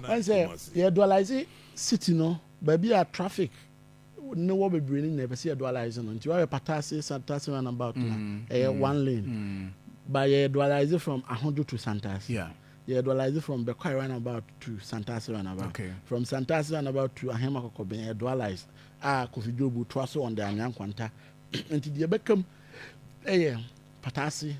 Woahu sɛ yɛ dualise city no baabi a traffic ne wɔ bebree no nyinaa yɛpɛ sɛ yɛ dualise no nti woahwɛ Patase Santase roundabout no a ɛyɛ one lane but yɛ dualise from Ahodwo to Santase yɛ dualise from Bɛkwae roundabout to Santase roundabout from Santase roundabout to Ahema Kɔkɔben yɛ dualise a Kofi Dwobu toa so on the Anwea Nkwanta nti deɛ ɛbɛka mu yɛ Patase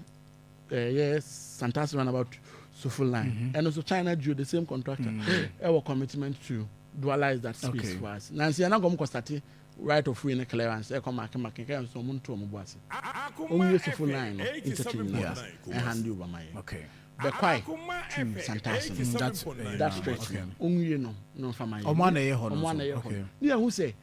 ɛyɛ Santasi roundabout Sofo line mm -hmm. ɛno nso China Geo the same contractor mm -hmm. ɛwɔ commitment to dualize that space okay. for us na nsia na nkɔm kɔ sate right of way ne clearance ɛkɔ make make kɛ nso ɔmo nto ɔmo bo ase ɔmo yɛ Sofo line no interchange no yeah. ɛhande over ma yɛ okay. bɛkwae to Santasi mm -hmm. that, that stretch okay. no ɔmo yɛ no no nfa ma yɛ ɔmo anayɛ hɔ no ɔmo anayɛ hɔ no ne yɛ ho sɛ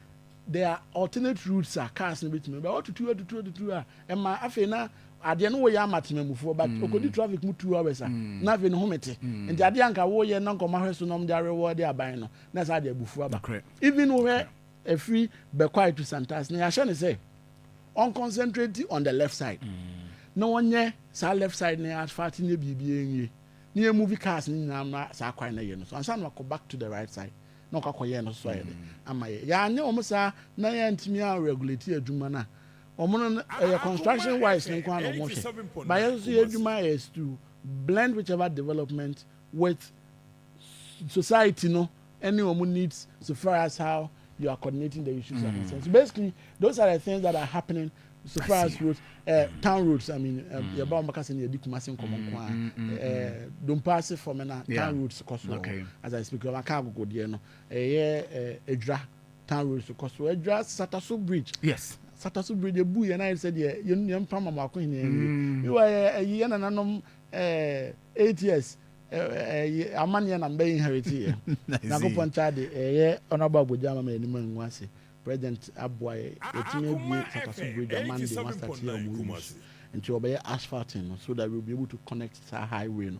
There are alternate routes a cars no betumi ba. Wɔatutu atutu atutu a ɛma afei na adeɛ no woyɛ ama temamufoɔ but ɔkɔdi traffic mu two hours a na afei ne home te. Nti adeɛ a nka woyɛ na nka wɔahwɛ so na wɔde arewɔɔde aban no na ɛsɛ ade abufuo aba. Even wohwɛ ɛfiri Bɛkwae to Santas no yɛahyɛ no sɛ ɔnconcentrate on the left side na ɔnyɛ saa left side no asphalt nyɛ biribiara nwie na yɛmove cars no nyinaa mma saa kwan no yɛ no so ansa na wakɔ back to the right side. na ɔkɔ akɔyɛ no so ayɛ dɛ ama yɛ yɛanyɛ wɔn saa na yɛntumi a regulate adwuma no a wɔn no ɛyɛ construction wise no nko ara na wɔn hwɛ ba yɛn nso yɛ adwuma yɛ to blend whichever development with society no ɛne wɔn needs so far as how you are coordinating the issues mm. are concerned so basically those are the things that are happening So far as roads, uh, town roads, I mean, um, mm. yɛba ɔmbɛka sɛ ne yɛde kumase nkɔmmɔ nko a mm, mm, eh, dompa ase fam na town roads kɔ so okay. as I speak ɔmaka agogo deɛ no ɛyɛ eh, adwira town roads kɔ so adwira sataso bridge yes sataso bridge ɛbu yɛn ayɛ sɛ deɛ yɛmpa ma maako hene ɛni mewa ɛyi yɛ nananom eh, eight years amanneɛ na mbɛyɛ inherit yɛ nyankopɔn kyɛ de ɛyɛ ɔnabɔ agodwa ama ma yɛnim angu ase President aboa yɛ yɛtumi abue Fataso bridge a Monday wɔn astate yɛ wɔn use nti wɔbɛyɛ asphalting no so that we will be able to connect saa highway no.